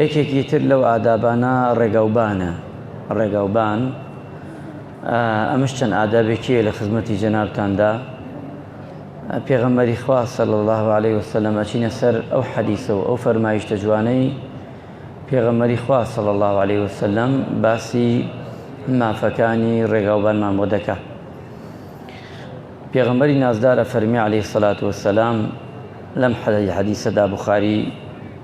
یەکێکی تر لەو ئادابانە ڕێگاوبانە، ڕێگاوبان، ئەمەش چەند ئادابێکییە لە خزمەتی جەنابتاندا، پێغەمبەری خوا صلی الله علیه و سلم ئەچینە سەر ئەو حەدیسە و ئەو فەرمایشتە جوانەی پێغەمبەری خوا صلی الله علیه و سلم باسی مافەکانی ڕێگاوبانمان بۆ دەکا پێغەمبەری نازدارە فەرمی علیه الصلاة والسلام لەم حەدیسەدا بخاری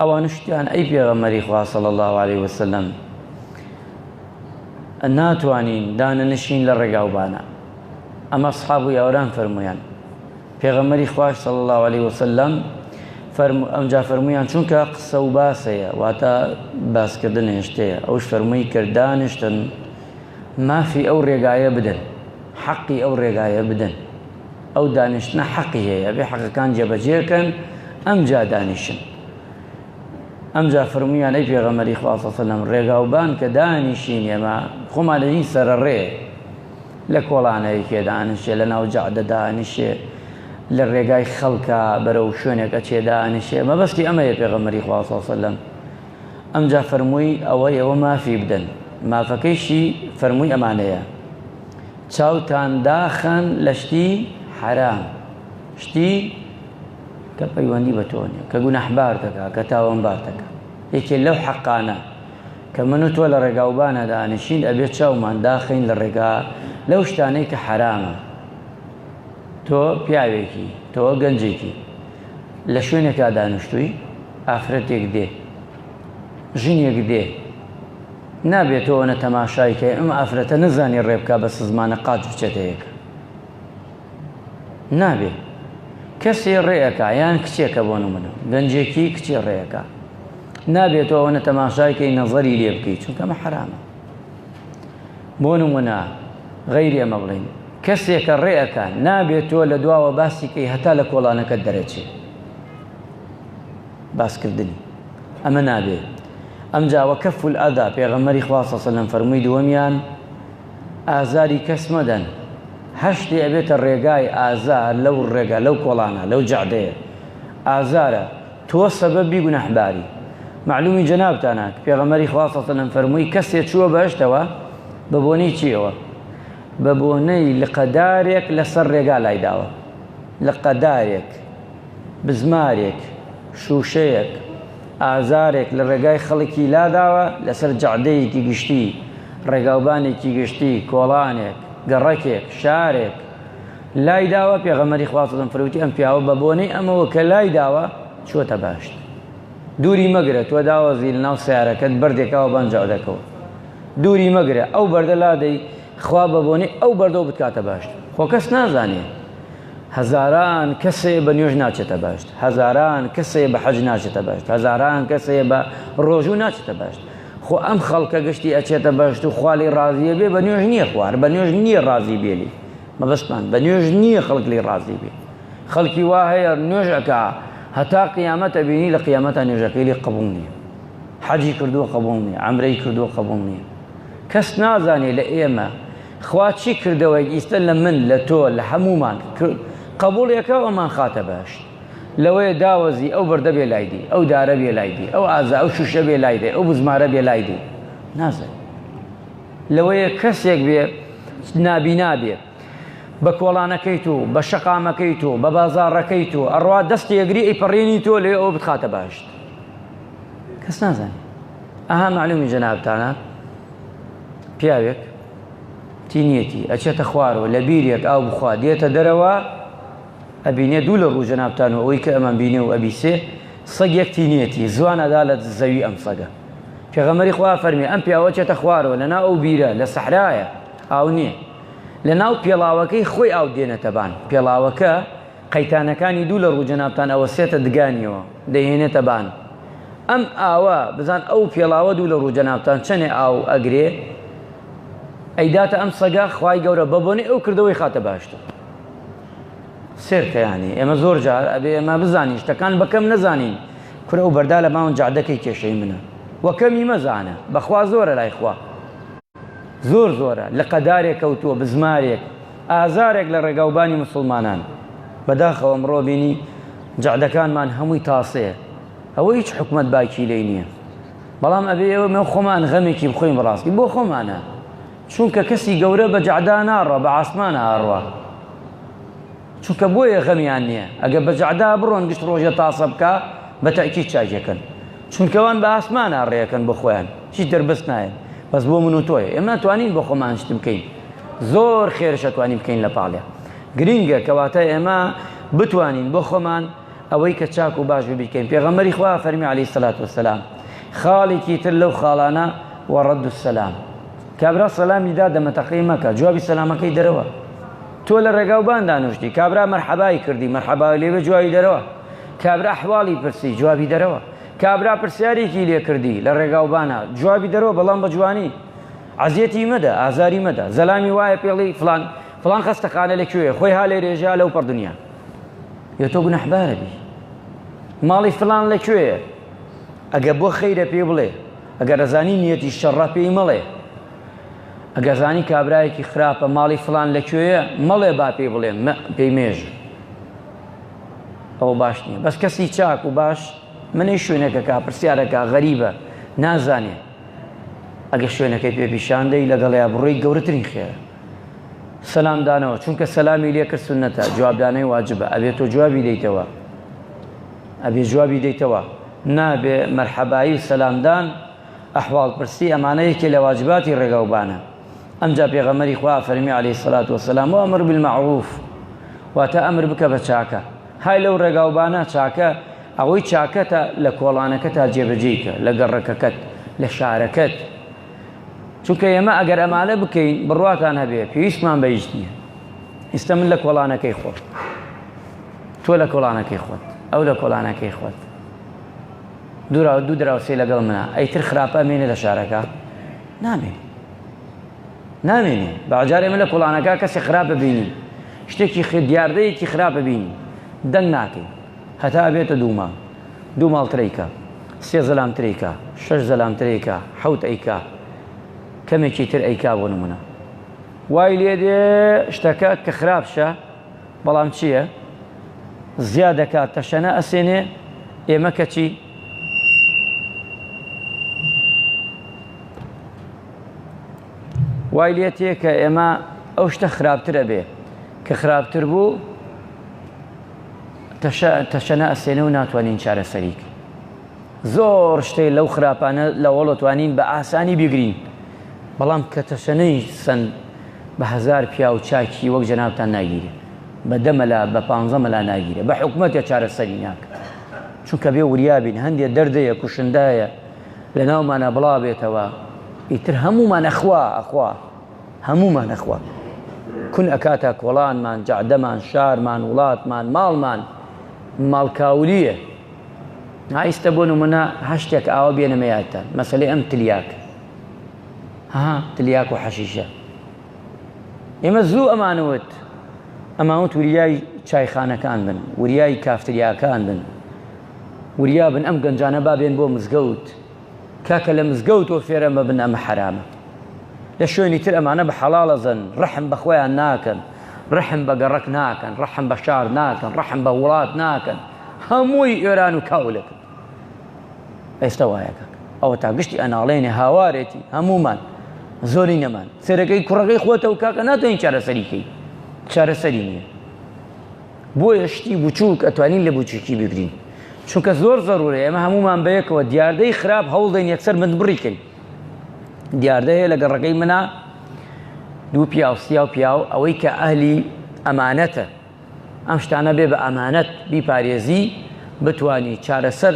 ئەوانش وتیان، ئەی پێغەمبەری خوا صلی اللە علیە وسلم ناتوانین دانەنشین لە ڕێگاوبانە ئەمە اصحاب و یاوران فەرمویان پێغەمبەری خواش صلی اللە علیە وسلم فرمو ئەمجا فەرمویان چونکە قسە و باسەیە واتە باسکردن هێشتەیە ئەوش فەرمووی کردانشتن مافی ئەو ڕێگایە بدەن حەقی ئەو ڕێگایە بدەن ئەو دانیشتنە حەقی هەیە بێ حەقەکان جێبەجێکەن ئەمجا دانیشن ئەمجا فرمویان ئەی پێغەمەری خواسەسەلم ڕێگاوبان کە دانیشین ئێمە خۆمان لە هیچ سەرە ڕێ لە کۆڵانەیەکێ دانیشێ لە ناو جەعدە دانیشێ لە ڕێگای خەڵکە بەرەو شوێنێکە چێ دانیشێ مەبەستی ئەمەیە پێغەمەری خواسەسەلم ئەمجا فەرمووی ئەوە ئێوە مافی بدەن مافەکەیشی فەرمووی ئەمانەیە چاوتان داخەن لە شتی حەرام شتی کە پەیوەندی بە تۆ نیە کە گوناحبار دەکا کە تاوانبار دەکا یەکێ لەو حەقانە کە من و تۆ لە ڕێگاوبانە دانیشین ئەبێت چاومان داخین لە ڕێگا لەو شتانەی کە حەرامە تۆ پیاوێکی تۆ گەنجێکی لە شوێنێکا دانیشتووی ئافرەتێک دێ ژنێک دێ نابێ تۆ ئەوەنە تەماشای کەی ئەم ئافرەتە نەزانی ڕێ بکا بە سزمانە قاچ بچێتە یەک نابێ کەسێ ڕێەکە یان کچێکە بۆ نمونە گەنجێکی کچێ ڕێەکە نابێت تۆ ئەوەنە تەماشایکەی نەزەری لێ بکەیت چونکەمە حرامە بۆ نمونە غەیری ئەمە بڵین کەسێکە ڕێەکە نابێت تۆ لە دواوە باسیکەی هەتا لە کۆڵانەکە دەرەچێت باسکردنی ئەمە نابێ ئەمجا وکف الاذی پێغەمبەری خوا صلی اللە علیە و سلم فەرمووی دووەمیان ئازاری کەس مەدەن هەر شتێ ئەبێتە ڕێگای ئازار لەو ڕێگا لەو کۆڵانە لەو جەعدەیە ئازارە تۆ سەبەبی گوناحباری معلومی جەنابتانە پێغەمبەری خوا صلی اللە علیە و سلم فەرمووی کەسێ چووە بەهشتەوە بە بۆنەی چیەوە بە بۆنەی لقەدارێک لەسەر ڕێگا لای داوە لقەدارێک بزمارێک، شووشەیەک، ئازارێک لە ڕێگای خەڵکی لاداوە لەسەر جەعدەیەکی گشتی، ڕێگاوبانێکی گشتی، کۆڵانێک، گەڕەکێک، شارێک لای داوە، پێغەمبەری خوا سەڵم فەرمووتی ئەم پیاوە بە بۆنەی ئەمەوە کە لای داوە چووەتە بەهەشت. دووری مەگرە، تۆ داوەزی لە ناو سەیارەکەت بەردێک ئاو بان جەعدەکەوە. دووری مەگرە، ئەو بەردە لادەی، خوا بە بۆنەی ئەو بەردەوە بتکاتە بەهەشت. خۆ کەس نازانێ. هەزاران کەسێ بە نوێژ ناچێتە بەهەشت هەزاران کەسێ بە حەج ناچێتە بەهەشت هەزاران کەسێ بە ڕۆژوو ناچێتە بەهەشت خۆ ئەم خەڵکە گشتی ئەچێتە بەهەشت و خالی ڕازیە بێ بە نوێژ نییە خوار بە نوێژ نییە ڕازی بێلی مەبەستمان بە نوێژ نییە خەڵک لی ڕازی بێ خەڵکی وا هەیە نوێژەکە هەتا قیامەتە بینی لە قیامەتە نوێژەکەی لی قبول نییە حەجی کردووە قبول نییە ئەمرەی کردووە قبول نییە کەس نازانێ لە ئێمە خوا چی کردەوە ئیستە لە من لە تۆ لە هەموومان قبول یەکە ئەمان خاتە بەهشت لەوەیە داوەزی ئەو بەردە بێ لای دی ئەو دارە بێ لای دی ئەو ئازا ئەو شوشە بێ لای دی ئەو بزمارە بێ لای دی نازن لەوەیە کەسێک بێ نابینا بێ بە کۆڵانەکەی تو بە شەقامەکەی تو بە بازارڕەکەی تو ئەڕوا دەستی ئەگری ئەیپەڕێنی تۆ لێ ئەو بخاتە باشت کەس نازانێت ئەها معلومی جەنابتانە پیاوێک تینیەتی ئەچێتە خوارەوە لە بیرێک ئاو بخوا دێتە دەرەوە ئەبینێ دوو لە ڕوو جەنابتان و ئەوەی کە ئەمان بینێ و ئەبیسێ سەگێک تینیەتی زوان ئەدا لە زەوی ئەم سەگە پێغەمەری خوا فەرمی ئەم پیاوە چێتە خوارەوە لەنا ئەو بیرە لە سەحرایە ئاو نییە لە ناو پێڵاوەکەی خۆی ئاو دێنێتە بان پێڵاوەکە قەیتانەکانی دوو لە ڕوو جەنابتان ئەوەسێتە دگانیەوە دەیهێنێتە بان ئەم ئاوە بزان ئەو پێڵاوە دوو لە ڕوو جەنابتان چەنێ ئاو ئەگرێ ئەیداتە ئەم سەگە خوای گەورە بە بۆنی ئەو کردەوەی خاتە باشتر سێرکەیانی ئێمە زۆر جار ئەبێ ئێمە بزانین شتەکان بەکەم نەزانین کورە و بەردا لە ماون جادەکەی کێشەی منە وەکەمی مەزانە بەخوا زۆرە لای خوا زۆر زۆرە لقە دارێک کەوتووە بزمارێک ئازارێک لە ڕێگاوبانی موسڵمانان بەداخەوە ئەمڕۆ بینی جەعدەکانمان هەمووی تاسەیە ئەوە هیچ حکومت باکی لی نییە بەڵام ئەبێ ئێوە مێ خۆمان غەمێکی بخۆین بڕاستی بۆ خۆمانە چونکە کەسی گەورە بە جەعدا ناڕە بە ئاسمان ئاڕوە چونکە بۆیە غەمیان نیە ئەگەر بە جەعدا بڕۆن گشت ڕۆژێ تاسە بکا بە تەئکید چاکی ئەکەن چونکە وان بە ئاسمانا ڕێ ئەکەن بۆ خۆیان هیچ دەربەست نایەن بەس بۆ من و تۆیە ئێمە ناتوانین بۆ خۆمان شت بکەین زۆر خێرش ئەتوانین بکەین لە پاڵێ گرینگە کەواتە ئێمە بتوانین بۆ خۆمان ئەوەی کە چاک و باش ببیکەین پێغەمبەری خوا فەرمی علی سلات وسلام خاڵێکی تر لەو خاڵانە وەڕەد و سەسلام کابرا سەلامی دا دەمەتەقەی مەکە جوابی سەلامەکەی دەرەوە تۆ لە ڕێگا و بان دانوشتی کابرا مەرحەبای کردی مەرحەبای لێبێ جوابی دەرەوە کابرا حواڵی پرسی جوابی دەرەوە کابرا پرسیارێکی لێ کردی لە ڕێگا و بانا جوابی دەرەوە بەڵام بە جوانی عەزیەتی مەدە ئازاری مەدە زەلامی وایە پێڵی فلان فلان خەستەخانە لە کوێ خۆی ها لێ رێژە لەو پڕ دنیا یە تۆ گونەحبارە بی ماڵی فلان لە کوێیە ئەگە بۆ خەیرە پێ بڵێ ئەگەر ئەزانی نیەتی شەڕە پێی مەڵێ ئەگەر زانی کابرایەکی خراپە ماڵی فلان لە کوێیە مەڵێ با پێی بڵێن پێی مێژ ئەو باش نییە بەس کەسی چاک و باش منی شوێنەکە کا پرسیارەکە غەریبە نازانێ ئەگە شوێنەکەی پێ پیشاندەی لەگەڵیا بڕۆی گەورەترین خێرە سەسلام دانەوە چونکە سەلامی لێ کرد سنەتە جوابدانەی واجبە ئەبێت تۆ جوابی دەیتەوە ئەبێ جوابی دەیتەوە نابێ مەرحەبایی و سەلامدان ئەحواڵپرسی ئەمانە یەکێ لە واجباتی ڕێگاوبانە ئەمجا پێغەمبەری خوا فەرمی علیە سلات وسلام و ئەمر بالمعروف واتە ئەمر بکە بە چاکە های لەو ڕێگاوبانە چاکە ئەوەی چاکەتە لە کۆڵانەکە تا جێبەجێیکە لە گەڕەکەکەت لە شارەکەت چونکە ئێمە ئەگەر ئەمانە بکەین بڕواتان هەبێ پێویستمان بەیش نییە ئیستا من لە کۆڵانەکەی خۆت تۆ لە کۆڵانەکەی خۆت ئەو لە کۆڵانەکەی خۆت دوراو دوو دراوسێ لەگەڵ منە ئەیتر خراپە ئەمێنێ لە شارەکە نامێنێ نامێنێ باجارێ من لە کوڵانەکە کەسی خراپ ببینی شتێکی خێ دیاردەیەکی خراپ ببینی دەنگ ناکەی هەتا بێتە دووما دوو ماڵ تریکە سێ زەلام تریکە شەش زەلام تریکە حوت ئەیکا کەمێکی تر ئەیکا بۆ نمونە وای لێ دێ شتەکە کە خراپشە بەڵام چیە زیا دەکات تەشەنە ئەسێنێ ئێمە کەچی وای لێ تێ کە ئێمە ئەو شتە خراپترە بێ کە خراپتر بوو تەشەنە ئەسێنە و ناتوانین چارەسەریک زۆر شتێ لەو خراپانە لەوەڵەتوانین بە ئاسانی بگرین بەڵام کە تەشەنەی سند بە هەزار پیاو چاکی وەک جەنابتان ناگیرێ بە دە مەلا بە پانزە مەلا ناگیرێ بە حکومەتێ چارەسەری ناکا چونکە بێ وریا بین هەندێ دەردەیە کوشندایە لە ناومانە بڵا بێتەوە ئیتر هەمومان ئەخوا ئەخوا هەمومان ئەخوا کون ئەکاتە کۆڵانمان جەعدەمان شارمان وڵاتمان ماڵمان ماڵکاولیە ئایستە بۆ نمونە هەشتێک ئاوە بێنەمە یادتان مەسەلەی ئەم تلیاک ها تلیاک و حەشیشە ئێمە زوو ئەمان وت ئەمان وت وریای چایخانەکان بن وریای کافتریاکان بن وریا بن ئەم گەنجانە بابێن بۆ مزگەوت کاکە لە مزگەوت و فێرە مەبن ئەمە حرامە لە شوێنی تر ئەمانە بە حەڵاڵەزن ڕحم بەخۆیان ناکەن ڕحم بە گەڕک ناکەن ڕحم بە شار ناکەن ڕحم بە وڵات ناکەن هەمووی ئێران و کاولەکەن ئێستا وایە کاک ئەوە تا گشتی ئەناڵێنێ هاوارێتی هەمومان زۆری نەمان سێرەکەی کوڕەکەی خۆتە و کاکە ناتوانین چارەسەریکەی چارەسەری نییە بۆیە شتی بچووک ئەتوانین لە بچووکی بگرین چونکە زۆر زەرورە ئێمە هەمومان بەیەکەوە دیاردەی خراپ هەوڵدەین یەکسەر من بڕیکەین دیاردە هەیە لە گەڕەکەی منە دوو پیاوسیا و پیاو ئەوەی کە ئەهلی ئەمانەتە ئەم شتانە بێ بە ئەمانەت بیپارێزی بتوانی چارەسەر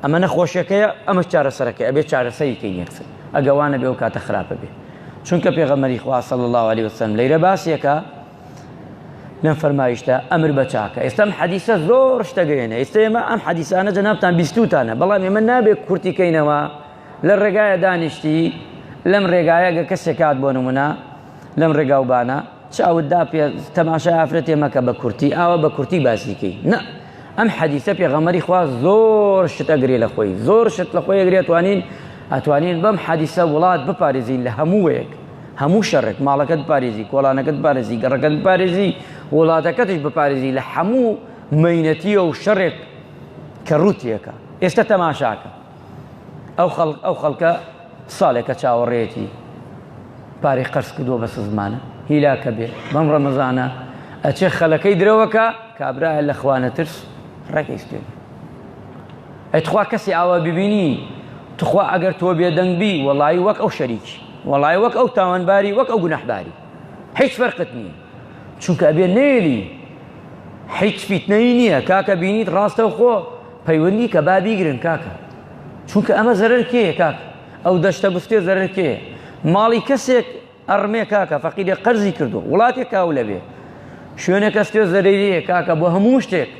ئەمە نەخۆشیەکەیە ئەمە چارەسەرەکە ئەبێ چارەسەری کەین یەکسەر ئەگەوانە بێ و کاتە خراپە بێ چونکە پێغەمەری خواصل الله عليه وسلم لەیرە باسیەکە لەم فەرمایشتە ئەمر بە چاکە ئێستم حەدیسە زۆر شتەگەێنە ئێستا ئێمە ئەم حەدیسانە جەنابان بیستوتانە بەڵام ئێمە نابێت کورتیکەینەوە لە ڕێگایە دانیشتی لەم ڕێگایە گە کەسێ کات بۆ نمونە لەم ڕێگاو بانە چ ئەوت دا پێ تەماشای ئافرەتێ مەکە بە کورتی ئاوە بە کورتی باسیکەی نە ئەم حەدیثە پێغەمەری خوا زۆر شت ئەگرێ لە خۆی زۆر شت لە خۆی ئەگرێت توانین ئەتوانین بەم حەدیسە وڵات بپارێزین لە هەمووەیەک هەموو شەڕێک ماڵەکەت پارێزی کۆڵانەکەت پارێزی گەڕەکەت پارێزی وڵاتەکەتش بپارێزی لە هەموو مینەتیە و شەڕێک کە ڕوتیەکە ئێستا تەماشاکە ئەو خەڵکە ساڵێکە چاوەڕێتی پارەی قەرز کردووە بە سزمانە هیلاکە بێ بەم ڕەمەزانە ئەچێ خەلەکەی درەوەکە کابراە لە خوانە ترس ڕێکی سپێن ئەتخوا کەسی ئاوا ببینی تخوا ئەگەر تۆ بێدەنگبی وەڵی وەک ئەو شەریکی وەڵی وەک ئەو تاوانباری وەک ئەو گونەحباری هیچ فەرقت نییە چونکە ئەبێ نێلی هیچ فیتنەی نییە کاکە بینیت ڕاستە خۆ پەیوەندی کە با بیگرن کاکە چونکە ئەمە زەرەر کێ کاک ئەو دەشتە بفتێ زەرەر کێ ماڵی کەسێک ئەڕمێ کاکە فەقیدێ قەرزی کردو وڵاتێک کاو لەبێ شوێنە کەستێ زەرەریە کاکە بۆ هەموو شتێک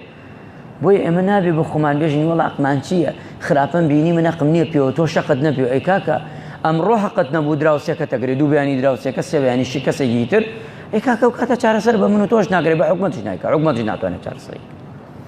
بۆی ئەمە نابێ بە خۆمان بێژین وڵا ئەقمان چییە خراپم بینی من ئەقم نییە پێوە تۆ شەقت نەبێ ئەی کاکە ئەمڕۆ حقت نەبوو دراوسێکە تەگرێ دوو بیانی دراوسێکە سێویانی شی کەسێکی تر ئەی کاکە و کاتە چارەسەر بە من و تۆش ناگرێ بە حکومەتش نایکە حکومەتش ناتوانێت چارەسەری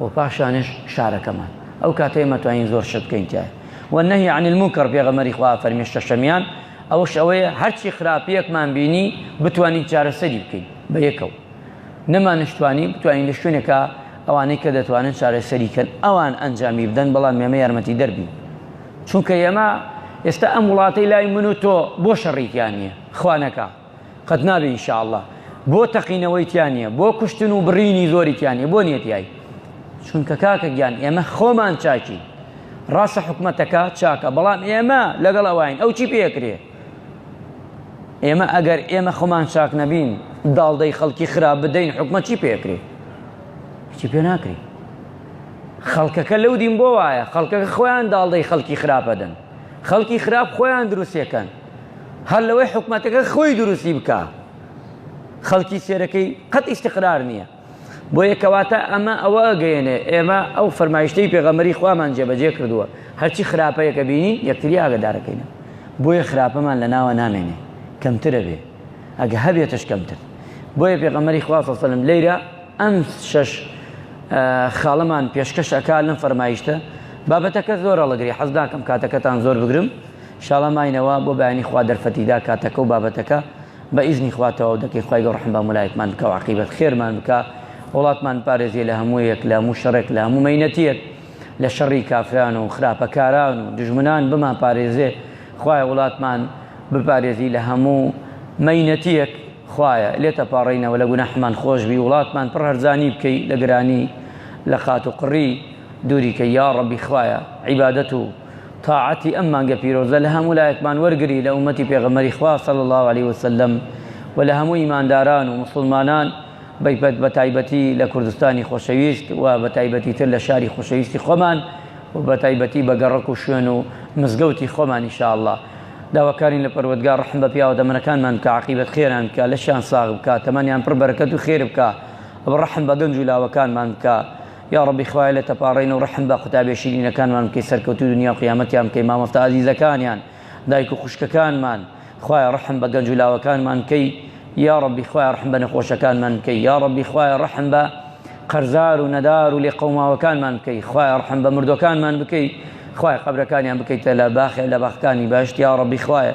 و پاشانیش شارەکەمان ئەو کاتەی ئێمە توانین زۆر شت بکەین تیایا و نهی عن المنکر پێغەمبەری خوا فەرمی شەشەمیان ئەوش ئەوەیە هەرچی خراپیەکمان بینی بتوانین چارەسەری بکەین بە یەکەوە نەمانشتوانی بتوانین لە شوێنێکە ئەوانەی کە دەتوانن چارەسەری کەن ئەوان ئەنجامی بدەن بەڵام ئێمە یارمەتی دەربین چونکە ئێمە ئێستا ئەم وڵاتەی لای من و تۆ بۆ شەڕیکیان نییە خوانەکە قەت نابێ ان شاء اللە. بۆ تەقینەوەی تیا نیە بۆ کوشتن و بڕینی زۆری تیا نیە بۆ نیە تیای چونکە کاکە گیان ئێمە خۆمان چاکی ڕاستە حکومەتەکە چاکە بەڵام ئێمە لەگەڵ ئەوین ئەو چی پێکرێ ئێمە ئەگەر ئێمە خۆمان چاک نەبین داڵدەی خەڵکی خراپ بدەین حکومە چی پێکرێ چی پێ ناکری خەڵکەکە لەو دین بۆ وایە خەڵکەکە خۆیان داڵدەی خەڵکی خراپەدەن خەڵکی خراپ خۆیان دروستەکەن هەر لەوەی حکومەتەکە خۆی دروستی بکا خەڵکی سێرەکەی قەت ئیستقرار نییە بۆیە کەواتە ئەمە ئەوە ئەگەیەنێ ئێمە ئەو فەرمایشتەی پێغەمەری خوامان جێبەجێ کردووە هەرچی خراپەیەکە بینین یەکتری ئاگدارەکەینە بۆیە خراپەمان لە ناوە نامێنێ کەمترە بێ ئەگە هەبێتش کەمتر بۆیە پێغەمەری خواسەسەلم لەیرە ئەم شەش خاڵەمان پێشکەش ئەکا لەم فەرمایشتە بابەتەکە زۆر هەڵەگری حەز ناکەم کاتەکەتان زۆر بگرم شاڵە ماینەوە بۆ بەیانی خوا دەرفەتی دا کاتەکە و بابەتەکە بە ئیزنی خوا تەواو دەکەین خوای گەوڕ ڕەحم بە هەموو لایەکمان بکا و عەقیبەت خێرمان بکا وڵاتمان بپارێزێ لە هەموو یەک لە هەموو شەڕێک لە هەموو مەینەتیەک لە شەڕی کافران و خراپەکاران و دوژمنان بمان پارێزێ خوایە وڵاتمان بپارێزی لە هەموو مەینەتیەک خوایە لێت ئەپاڕێینەوە لە گوناحمان خۆش بی وڵاتمان پڕ هەرزانی بکەی لە گرانی لە قات و قڕی دووری کەی یاڕەبی خوایە عیبادەت و تاعەتی ئەم مانگە پیرۆزە لە هەموو لایەکمان وەرگری لە ئوممەتی پێغەمبەری خوا صلی اللە علیە وسلم و لە هەموو ئیمانداران و موسڵمانان بەتایبەتی لە کوردستانی خۆشەویست و بەتایبەتی تر لە شاری خۆشەویستی خۆمان و بەتایبەتی بە گەڕەک و شوێن و مزگەوتی خۆمان ان شاء اللە داواکارین لە پەروەردگار ڕەحم بە پیاوە تەمەنەکانمان بکا عەقیبەت خێران بکا لەشیان ساغ بکا تەمەنیان پڕ بەرەکەت و خێر بکا ڕەحم بە گەنج و لاوەکانمان بکا یاڕەبی خوایە لە تەپاڕین و ڕەحم بە قوتابیە شیرینەکانمان بکەی سەرکەوتوی دونیا و قیامەتیان بکەی مامۆستا ئازیزەکانیان دایک و خوشکەکانمان خوایە ڕەحم بە گەنج و لاوەکانمان بکەی یاڕەبی خوایە ڕەحم بە نەخۆشەکانمان بکەی یاڕەبی خوایە ڕەحم بە قەرزار و نەدار و لێقەوماوەکانمان بکەی خوایە ڕەحم بە مردوەکانمان بکەی خوایە قەبرەکانیان بکەیتە لە باخێ لە باخەکانی بەهەشت یاڕەبی خوایە